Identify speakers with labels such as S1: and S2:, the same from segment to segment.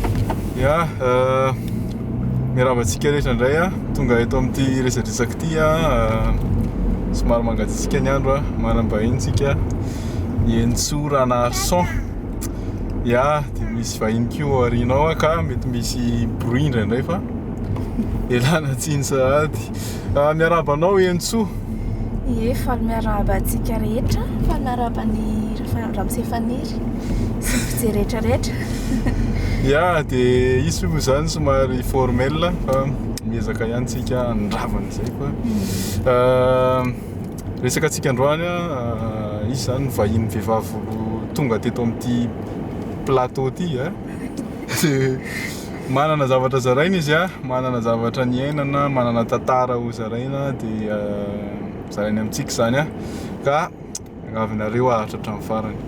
S1: Ya, miarahaba antsika rehetra indray a, tonga eto amin'ity resadresaka ity a, somary mangatsiatsiaka ny andro a, manam-bahiny tsika, Henintsoa Ranarison, ya, dia misy vahiny koa ao aorianao ka mety misy bruit indraindray fa ialana tsiny sahady. Ah, miarahaba anao Henintsoa. Ie,
S2: faly miarahaba antsika rehetra. Faly miarahaba ny Rafa- Ramosefaniry sy ny mpijery rehetra rehetra. Ya,
S1: dia hisy moa izany somary formel fa miezaka ihany tsika handrava an'izay fa ah, resaka antsika androany ah, izy izany vahiny vehivavy vao tonga teto amin'ity plateau ity eh. Manana zavatra zaraina izy a, manana zavatra niainana, manana tantara ho zaraina dia zarainy amintsika izany a, ka miangavinareo aharitra hatramin'ny farany.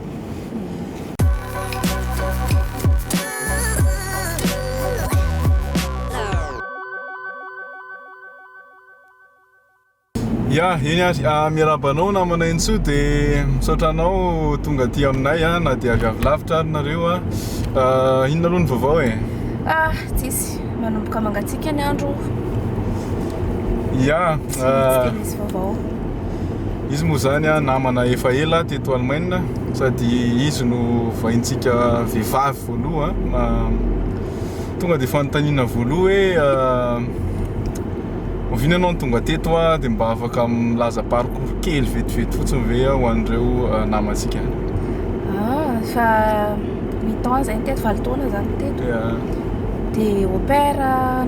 S1: Ya, eny ary, miarahaba anao namana Entso de misaotra anao tonga aty aminay a, na de avy avy lavitra ary nareo a, inona aloha ny vaovao e? Ah, tsisy,
S2: manomboka mangatsiaka ny andro, Ya, tsy maintsy dia
S1: misy
S2: vaovao. izy
S1: moa zany a namana efa ela teto Alemaina sady izy no vahintsika vehivavy voaloha, tonga de fanontaniana voaloha hoe Oviana ianao no tonga teto hoa dia mba afaka milaza parcours kely vetivety fotsiny ve ho an'ireo eh, namantsika? Ah, efa
S2: huit ans izay no teto, valo taona za no teto. Ya. Dia au pair,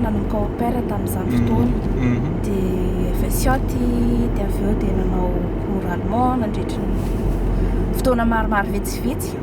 S2: nanomboka au pair tamin'izany fotoana. Mhm. Dia avy Sioty, dia avy eo dia nanao cours allemand nandritry ny fotoana maromaro vitsivitsy.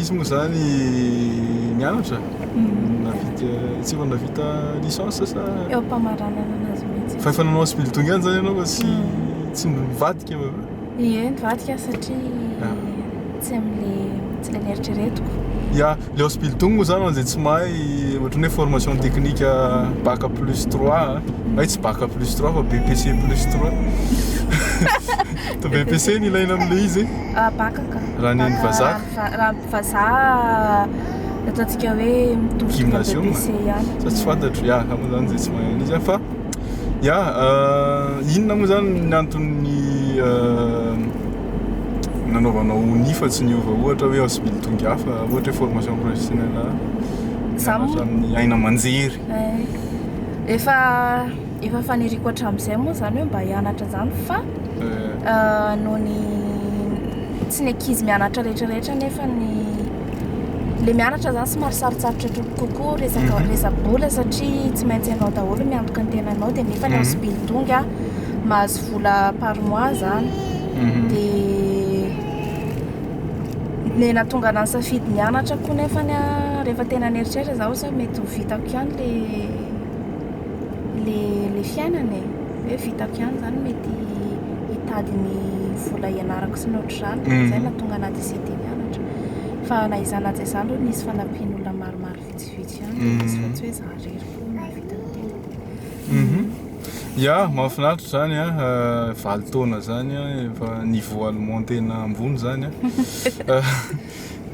S1: Izy moa zany nianatra? Navita, tsy efa navita licence sa? Eo am-pamaranana anazy
S2: mihitsy. Fa efa nanao sibilitony ihany
S1: zany ianao fa tsy hmm. tsy nivadika va? Ie, nivadika
S2: satria ah. tsy amin'le tsy le neritreretiko. Ya, le
S1: hospital moa zany an'izay tsy mahay ohatran'ny hoe formation technique ah, bac plus 3, ah. hay tsy bac plus 3 fa BPC plus 3. To BPC ny ilaina amin'le izy. Ah, bac
S2: Raha ny an'ny vazaha ka?
S1: Raha raha ny
S2: vazaha ataontsika hoe mitovy tonga Gymnasium? BEPC ihany. Sa tsy fantatro, ya, za
S1: moa zany zay tsy mahay an'io zany fa ya euh, inona moa zany ny anton'ny euh, nanaovanao ny fa tsy niova ohatra hoe Asbl tonga hafa, ohatra hoe formation professionnelle Za mianatra moa- amin'ny aina aman-jery. Eh, Efa
S2: efa faniriko hatramin'izay moa izany hoe mba hianatra izany fa noho ny tsy ny ankizy mianatra rehetra rehetra nefa ny le mianatra izany somary sarotsarotra tro- kokoa resaka Mhm. resa-bola satria tsy maintsy ianao daholo no miantoka ny tenanao dia nefa ny Mhm. aos bildong a mahazo vola par mois izany Mhm. dia ny nahatonga anahy nisafidy ny hianatra koa nefany a rehefa tena nieritreritra za osa hoe mety ho vitako ihany le ilay fiainana e, hoe vitako ihany izany mety hitady ny vola hianarako sy ny ohatr'izany, dia izay no nahatonga anà décidé hianatra. Fa na izany na tsy izany aloha nisy fanampian'olona maromaro vitsivitsy ihany dia nisy fa tsy hoe izaho irery foana no nahavita ny tenako.
S1: Ya, mahafinaritra izany an, valo taona izany an, efa niveau allemand tena ambony izany an.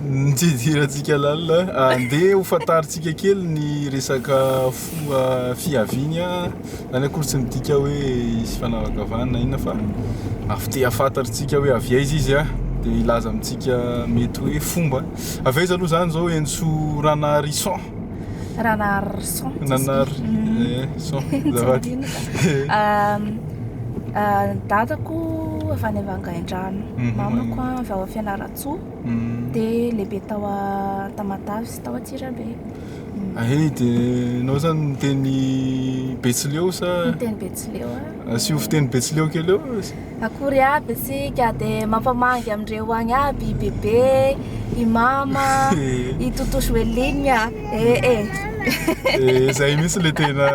S1: Ny tsy hidirantsika lalina, andeha ho fantarintsika kely ny resaka foha fihaviany. Izany akory tsy midika hoe hisy fanavakavahana na inona fa avy te hahafantarintsika hoe avy aiza izy dia hilaza amintsika mety hoe fomba. Avy aiza aloha izany izao Henso Ranarison?
S2: Ranarison.
S1: Ranarison.
S2: Dadako avy any Vangaindrano, mamako avy ao Fianarantsoa. Ambohitsoa dia lehibe tao Antamatave sy tao Antsirabe. Aheny dia
S1: nao zany miteny Betsileo sa? Miteny Betsileo
S2: a. Ah. Asio fiteny Betsileo
S1: kely eo. Akory aby
S2: isika dia mampamangy amindreo agny aby i bebe, i mama, i Toto Joeline a. Eh eh. Eh
S1: zay mihitsy le tena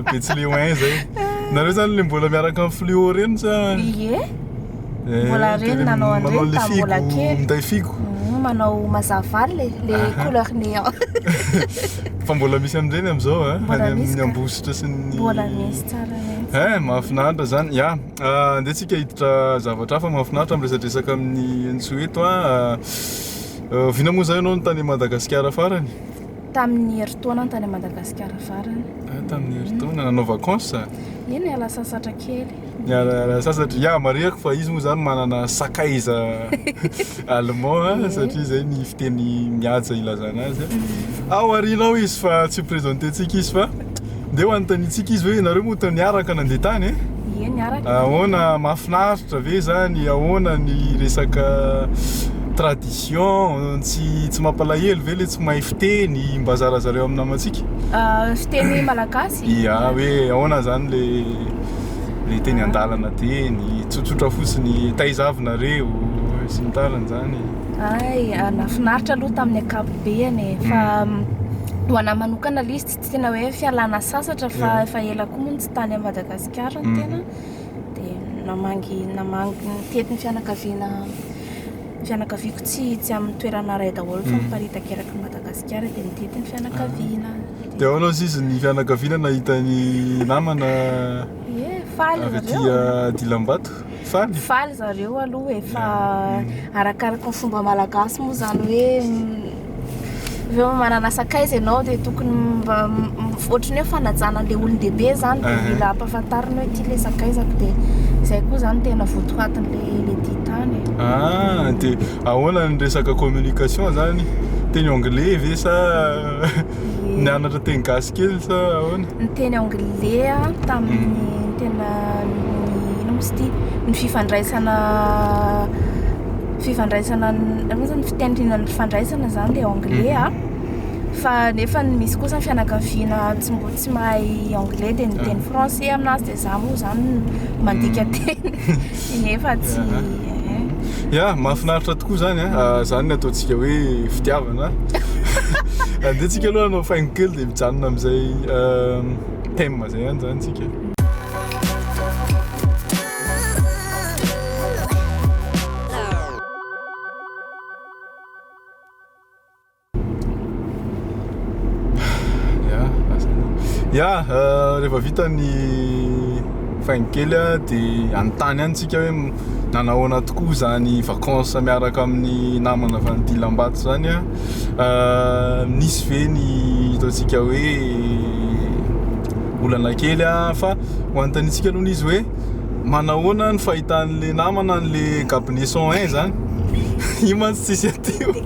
S1: Betsileo hein zay. Nareo zany le mbola miaraka
S2: amin'ny
S1: Fluo reny sa? Ie. Mbola reny
S2: nanao an'ireny Manao tamin'ny mbola an'ilay figo, kely. minday figo. Mhm,
S1: Manao mazava
S2: le le Aha. couleur néant.
S1: Fa mbola misy amin'ireny amin'izao a, Mbola any misy amin'ny ka. Ambositra
S2: sy
S1: ny Mbola misy
S2: tsara
S1: mihitsy.
S2: Eh, mahafinaritra izany. Ya,
S1: ah, andeha tsika hiditra zavatra hafa mahafinaritra miresadresaka amin'i Henitsoa eto a. Ah, Oviana moa izany ianao no tany Madagasikara farany? Tamin'ny
S2: herintaona tany Madagasikara farany. Ah, tamin'ny herintaona
S1: nanao vacances? Eny ala sasatra
S2: kely. Ny ala sasatra
S1: ya marihako fa izy moa zany manana sakaiza allemand mm. satria zay ny fiteny mihaja ilazana azy. Mm. Ao arinao izy fa tsy présenté-tsika izy fa Ndeha hanontaniantsika izy hoe nareo moa niaraka nandeha tany eh? Ie niaraka.
S2: Ahoana
S1: mahafinaritra ve zany? Ahoana ny resaka tradition? Tsy tsy mampalahelo ve le tsy mahay fiteny? Mba zarazareo amin'ny namantsika. Ah, fiteny
S2: malagasy? Ia, hoe ahoana
S1: zany le le teny an-dalana teny? Tsotsotra fotsiny, taiza avy nareo? sy ny tariny zany. Ay, nahafinaritra
S2: aloha tamin'ny ankapobeny e, fa mm. ho anahy manokana le izy Tsy tena hoe fialana sasatra fa efa ela koa moa tsy tany Madagasikara ny mhm. tena dia namangy namangy ny tetin'ny fianakaviana fianakaviako tsy tsy amin'ny toerana iray daholo fa mhm. miparitaka eraky Madagasikara dia nitety ny fianakaviana. Ah. Dia ahoana ozy izy
S1: ny fianakaviana nahita ny namana avy
S2: aty
S1: Dilambato? Faly? Faly zareo
S2: aloha e, fa arakaraka ny fomba malagasy moa zany hoe avy eo manana sakaiza ianao dia tokony mba ohatran'ny hoe fanajana an'ilay olon-dehibe zany dia ah. mila ampafantarina hoe ity ilay sakaizako dia izay koa zany tena votoatin'ilay le tia tany ah dia
S1: ahoana ny resaka communication zany teny anglais ve sa Nianatra teny gasy kely sa ahoana? Ny teny
S2: anglais tamin'ny mm. tena ny ino misy ity ny fifandraisana fifandraisana ny fiteny tena ny fifandraisana zany dia anglais mm. a ah. fa nefa ny misy kosa ny fianakaviana tsy mbo tsy mahay anglais dia ny teny ah. français aminazy dia za moa zany mandika mm. teny Tsy nefa tsy eh. Ya,
S1: mahafinaritra tokoa izany a. Ah, izany no ataontsika hoe fitiavana. Andeha tsika aloha hanao faingo kely dia mijanona amin'izay ehm, thème izay ihany izany tsika. ya euh, rehefa vita ny faingo kely a de anontany any tsika hoe nanahoana tokoa zany vacances miaraka amin'ny namana avy an'ity lambato zany a euh, nisy ve ny ataontsika hoe olana kely a fa ho anontanitsika aloha izy hoe manahoana ny fahitan'le namana an'le gabneson un zany io mantsy tsisy aty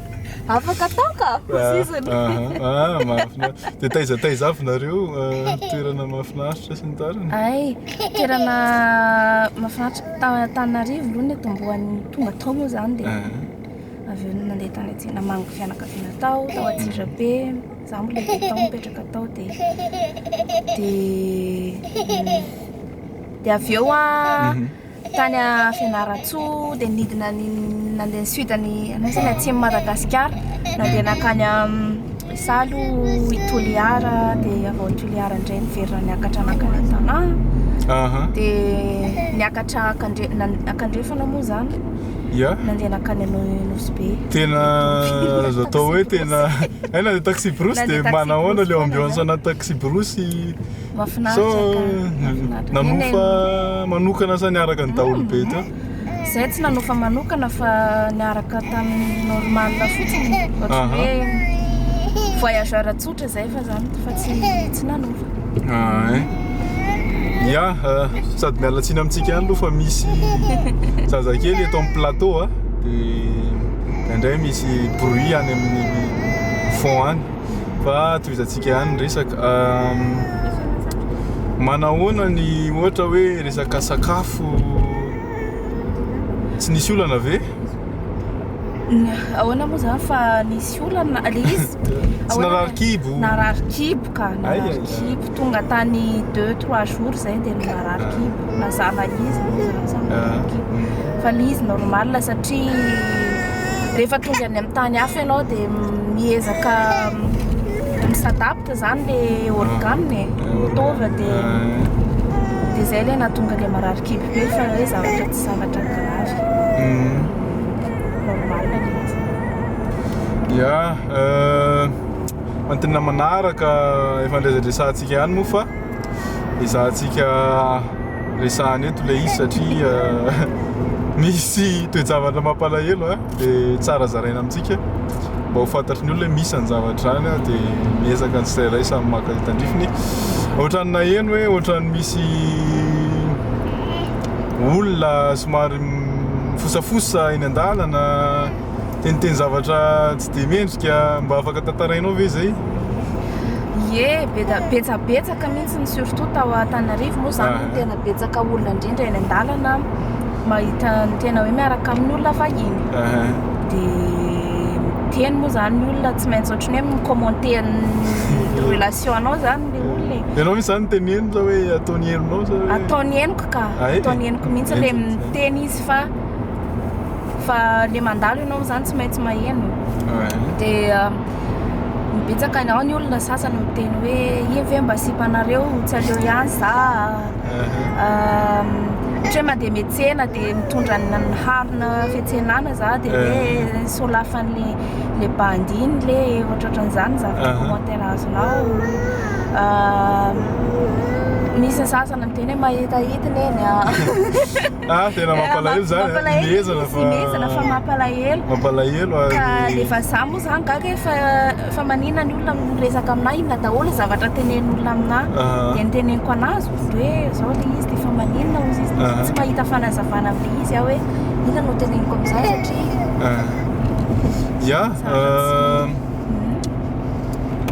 S2: Afaka atao ka, hoziziny. Ah,
S1: mahafinaritra. Dia taiza taiza avy nareo ah, toerana mahafinaritra sy ny tariny? Ay, toerana
S2: mahafinaritra tao Antananarivo aloha ny atombohan'ny tonga tao moa izany dia Ah, avy eo nandeha tany atsy namangy fianakaviana tao, tao Antsirabe, za mbola efa tao mipetraka tao dia dia dia avy eo ah Mhm. Tany Fianarantsoa dia nidina nandeha nisudn ny anona izany atsimon'i Madagasikara nandeha nankany amin'ny salo i Toliara dia avy ao Toliara indray niverina niakatra nankany Antanaha dia niakatra akandre akandrefana moa izany ya nandeha nankany amin'ny Nosy Be tena
S1: azo atao hoe tena aina ny taxi brousse dia manahoana ilay ambiance ana taxi brousse
S2: Nanofa
S1: manokana sa niaraka ny daholo be teo? Zahay tsy nanofa
S2: manokana fa niaraka tamin'ny normal fotsiny, ohatran'ny hoe voyageur tsotra izay fa zany fa tsy nanofa. Ah
S1: eh. Ya, sady miala tsiny amintsika ihany aloha fa misy zazakely eto amin'ny plateau a, dia indraindray misy bruit any amin'ny fond any. fa tohizantsika ihany ny resaka manahoana ny ohatra hoe resaka sakafo tsy nisy olana ve ahoana
S2: moa zany fa nisy olana le izy tsy narary
S1: kibo narary kibo
S2: ka narary kibo Tonga tany deux trois jours izay dia marary kibo, mazàna izy moa izany samy marary kibo. Fa ilay izy normal satria rehefa tonga any amin'ny tany hafa ianao dia miezaka mi-s'adapte izany ilay organe e, mitovy dia dia izay ilay nahatonga ilay marary kibo be fa hoe zavatra tsy zavatra grave. Normal ilay izy.
S1: Ya, Antonona manaraka efa niresadresantsika ihany moa fa ezahantsika resahana eto ilay izy satria misy toe-javatra mampalahelo dia tsara zaraina amintsika mba ho fantatry ny olona misy ny zavatra izany dia miezaka ny tsirairay samy maka ny tandrifiny ohatran'ny naheno hoe ohatran'ny misy olona somary fosafosa eny an-dalana Teniteny zavatra tsy dia mendrika, mba afaka tantarainao ve zay? Ie,
S2: betsabetsaka mihitsy ny surtout tao Antananarivo moa zany ah. tena betsaka olona indrindra eny an-dalana mahita ny tena hoe miaraka amin'ny olona vahiny. Ah. Dia teny moa zany ny olona tsy maintsy ohatrany hoe mi-commenter ny relation-nao zany ny olona e. Ianao mihitsy zany teny henoko
S1: zao hoe ataony henonao zao hoe. Ataony henoko ka, ah, eh,
S2: ataony henoko mihitsy le miteny izy fa fa le mandalo ianao zany tsy maintsy maheno dia betsaka ianao ny olona sasany miteny hoe iny ve mba sipanareo tsy aleo ihany za ohatra hoe mandeha metsena dia mitondra ny harina fetsenana za dia hoe solafan'le le bandy iny le ohatrohatran'izany zavatra commentaire azonao misy sasany miteny hoe mahita hitiny eny
S1: Ah, tena mampalahelo zany, ilezana fa...
S2: Ilezana fa mampalahelo. Mampalahelo ary... Ka le vazaha moa zany gaga hoe fa, fa manina ny olona no miresaka aminà, inona daholo zavatra tenenin'olona aminà. Dia ny teneniko an'azy hoe zao le izy, dia fa maninona hozy izy, tsy mahita fanazavana amin'le izy aho hoe inona no teneniko amin'izany satria... Ya,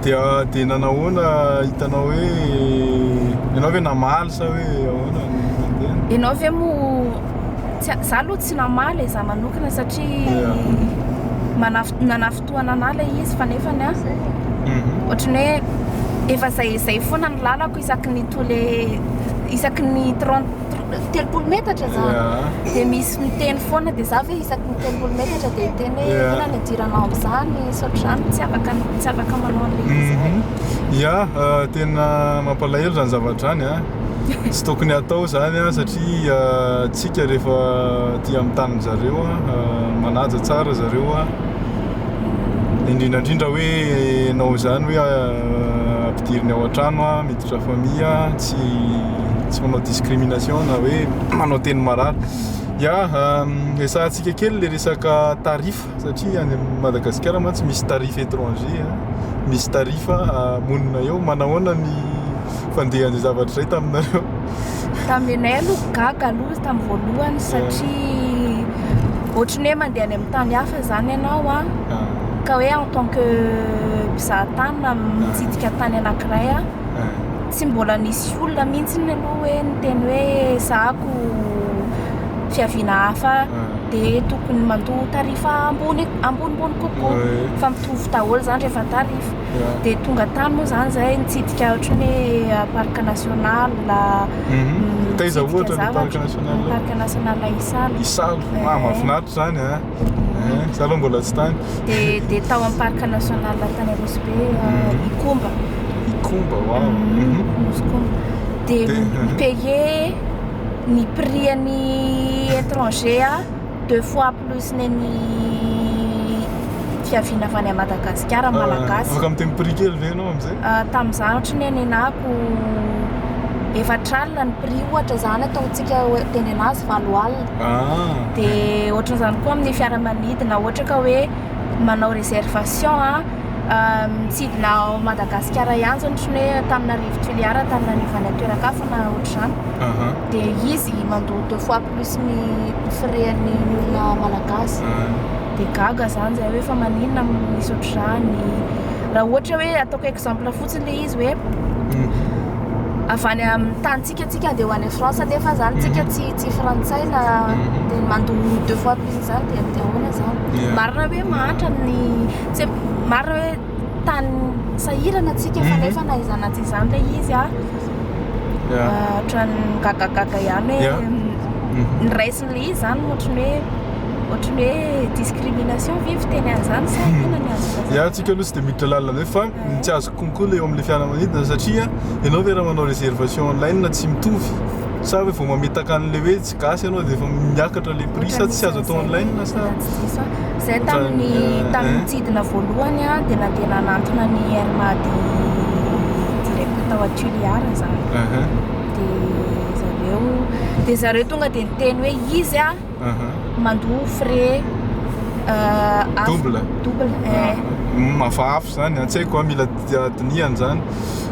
S2: dia dia nanahoana hitanao hoe ianao ve namaly sa hoe ahoana ny nandeha ianao ve moa tsy za aloha tsy namaly za manokana satria manaf nanafotohana anah le izy fa nefa ny azy mhm. ohatrany hoe efa zay zay foana ny lalako isaky ny tole isaky ny trente telopolo metatra za dia misy miteny foana dia za ve isaky ny telopolo metatra dia miteny hoe inona ny idiranao amin'izany sotr'izany tsy afaka tsy afaka manao an'ilay izy zay mhm.
S1: ya euh, tena mampalahelo zany zavatra zany a tsy tokony atao zany a satria euh, tsika rehefa aty amin'ny tanin'ny zareo a euh, manaja tsara zareo a indrindra indrindra hoe ianao izany hoe ah, ampidiriny ao an-trano ah, miditra famille ah, tsy tsy manao discrimination na hoe manao teny marary ya esahantsika kely le resaka tarif satria any Madagasikara mantsy misy tarif étranger ah, misy tarif ah, monina eo manahoana ny fandehan'izay zavatra izay taminareo Taminay
S2: aloha gaga aloha izy tamin'ny voalohany satria ohatry ny hoe mandeha any amin'ny tany hafa izany ianao a ah. ka hoe en tant que mpizaha tany na mitsidika tany anankiray a ah. tsy mbola nisy olona mihitsy ny aloha hoe niteny hoe zahako fiaviana hafa ah. dia tokony mandoa tarifa ambony ambonimbony kokoa fa mitovy daholo izany rehefa tarifa dia tonga tany moa izany izahay nitsidika ohatran'ny hoe parc national mhm.
S1: taiza ohatra ny parc national parc
S2: national isalo isalo
S1: ah eh. mahafinaritra izany a eh. eh, zalo mbola tsy tany dia dia tao amin'ny
S2: parc national tany rosobe mhm. ikomba ikomba wa mhm. ikomba dia payer ny prix an'ny étranger deux fois plus nen'ny fiaviana avy any à Madagascar malagasy. Afaka miteny prix kely ve
S1: ianao amin'izay? Tamin'izaho ohatry ny hoe
S2: nenako efatra alina ny prix ohatra izany ataontsika teny an'azy valo alina. Ah. Dia ohatran'izany koa amin'ny fiaramanidina ohatra ka hoe manao réservation a mitsidina ao Madagasikara ihany izany ohatry ny hoe Antananarivo Toliara Antananarivo any an-toeran-kafa na ohatr'izany. Dia izy mandoa deux fois. plus ny firehan'ny ny olona malagasy dia gaga zany zay hoe fa maninona misy ohatr'izany raha ohatra hoe ataoko exemple fotsiny le izy hoe mhm. avy any amin'ny tanintsika tsika dia ho any France nefa zany mhm. tsika tsy tsy frantsay na mhm. dia mandoa deux fois plus zany dia dia ahoana zany marina hoe mahantra ny tsy marina hoe tany sahirana antsika fa nefa na izany na tsy izany ilay izy a ohatran'ny gagagaga ihany hoe ny raisin'ilay izy izany ohatran'ny hoe ohatran'ny hoe discrimination ve fiteny an'izany sa inona ny azoko atao? Ya antsika aloha tsy dia miditra
S1: lalina be fa ny tsy azoko konko ilay eo amin'ilay fiaramanidina satria ianao ve raha manao réservation online tsy mitovy sa hoe vao mamitaka an'ilay hoe gasy aloha dia efa miakatra le prix sa tsy azo atao online sa zay
S2: tamin'ny tamin'ny mitsidina voalohany a dia nandeha nanantona ny air mady direct tao atuliar zany dia zareo dia zareo tonga dia niteny hoe izy a mandoa frais euh, double double eh.
S1: mafafy zany an-tsaiko a mila dinihana zany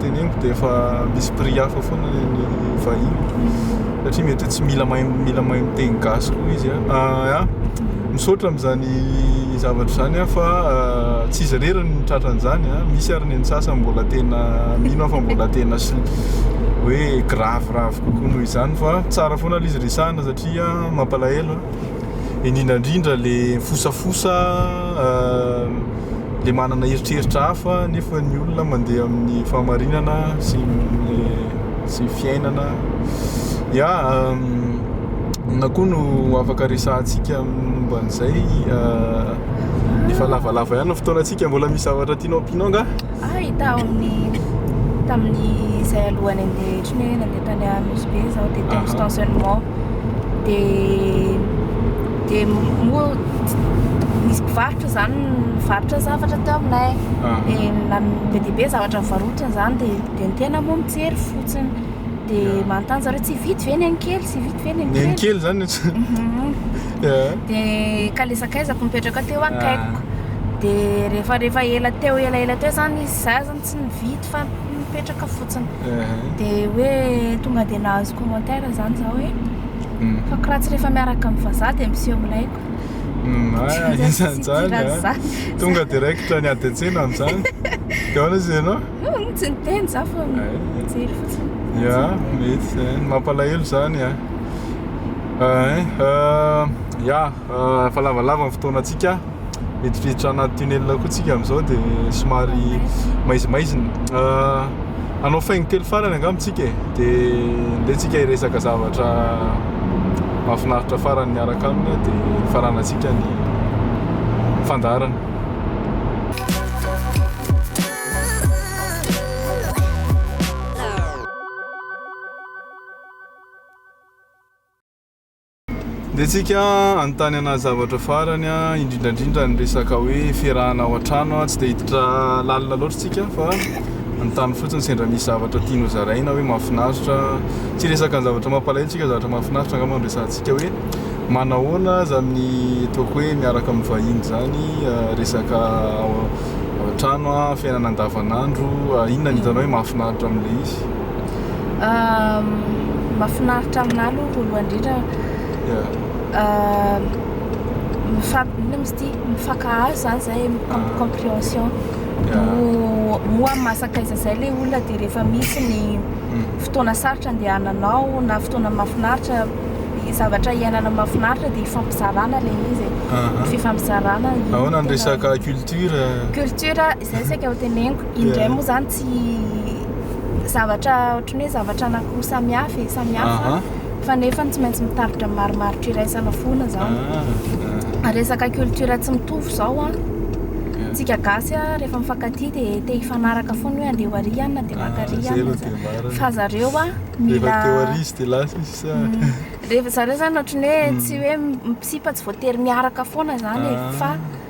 S1: teneniko dia efa misy prix hafa foana ny an'ny vahiny satria mety hoe tsy mila mahay mila mahay miteny gasy koa izy a ah, ah, misaotra amin'izany zavatra izany a fa ah, tsy izy rery ny tratra an'izany a misy ary ny an'ny sasany mbola tena mino fa mbola tena sy hoe graviravo kokoa noho izany fa tsara foana ilay izy resahana satria mampalahelo a indrindra indrindra le fosafosa le manana eritreritra hafa nefa ny olona mandeha amin'ny fahamarinana sy le sy fiainana ya na koa no afaka resahantsika momba an'izay efa lavalava ihany ny fotoanantsika mbola misy zavatra tianao ampianao angaha? Hay tao amin'ny
S2: tamin'ny izay alohany andeha tsy hoe nandeha tany Nosy Be izao dia tao stationnement dia dia moa nisy mpivarotra izany mivarotra zavatra teo aminay dia be dia be zavatra nivarotany izany dia dia ny tena moa mijery fotsiny dia manontany zareo tsy vity ve ny ankely tsy vity ve ny ankely ny ankely izany
S1: de
S2: kalezakaizako mipetraka teo akaikiko de rehefa rehefa ela teo ela ela teo zany izy za zany tsy nividy fa mipetraka fotsiny de hoe tonga de nahazo commentaire zany za hoe mm. fa koa raha tsy rehefa miaraka amin'ny vazaha de miseho milaiko mm, isan'izany
S1: tonga de raikitra ny ady an-tsena an'izany de ahoana izy ianao mm, tsy niteny
S2: za fa mijery fotsiny
S1: ya mety zany mampalahelo zany a ah. Ya, efa lavalava ny fotoanantsika, miditra anaty tunnel koa isika amin'izao dia somary maizimaizina, hanao faingo kely farany angamba isika e, dia ndeha hiresaka zavatra mahafinaritra farany miaraka aminy dia hifaranantsika ny fandaharana. Dia tsika anontany ana zavatra farany a, indrindra indrindra ny resaka hoe fiarahana ao an-trano a, tsy dia hiditra lalina loatra tsika fa anontany fotsiny sendra misy zavatra tiany hozaraina hoe mahafinaritra, tsy resaka ny zavatra mampalahelo tsika zavatra mahafinaritra angamba no resahantsika hoe manahoana aza amin'ny ataoko hoe miaraka amin'ny vahiny zany resaka ao an-trano a, fiainana andavan'andro, inona no hitanao hoe mahafinaritra amin'ilay izy.
S2: Mahafinaritra aminà aloha voalohany indrindra inona moa izy ity mifankahazo izany izay comprehension moa amin'ny maha sakaiza izay ilay olona dia rehefa misy ny hmm. fotoana sarotra andehananao na fotoana mahafinaritra zavatra iainana mahafinaritra dia ifampizarana ilay izy e. fifampizarana ahoana ny resaka
S1: culture culture Izay saika ho
S2: teneniko. Indray moa izany tsy zavatra ohatry ny hoe zavatra anankiroa samihafa e, samihafa fa nefa tsy maintsy mitarika marimaritra iraisana foana izany. Ah, ah. Resaka culture tsy mitovy izao an. Tsika gasy a rehefa mifankatia dia te hifanaraka foana hoe andeha ho ary ihany na dia maka ary ah, ihany fa zareo a mila mm. rehefa zareo izany ohatry ny hoe mm. tsy hoe misipa tsy voatery miaraka foana izany e fa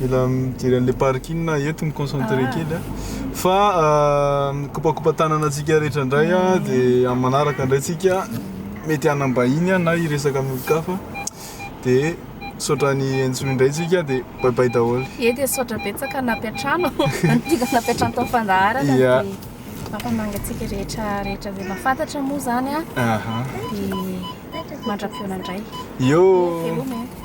S1: Mila mijery an'ilay parking na eto mi concentrer ah. kely a. Fa ah, mikopakopa tanana antsika rehetra indray a ah, de amin'ny manaraka indray tsika mety hanambahiny a na hiresaka amin'ny olon-kafa de saotra ny entsoy indray tsika de bye bye daholo. Ie de saotra betsaka
S2: nampiantrano antika nampiantrano tao fandaharana de mampamangy antsika rehetra rehetra zay mahafantatra moa zany a. Aha. De mandra-piona indray. Yo.
S1: Veloma
S2: e.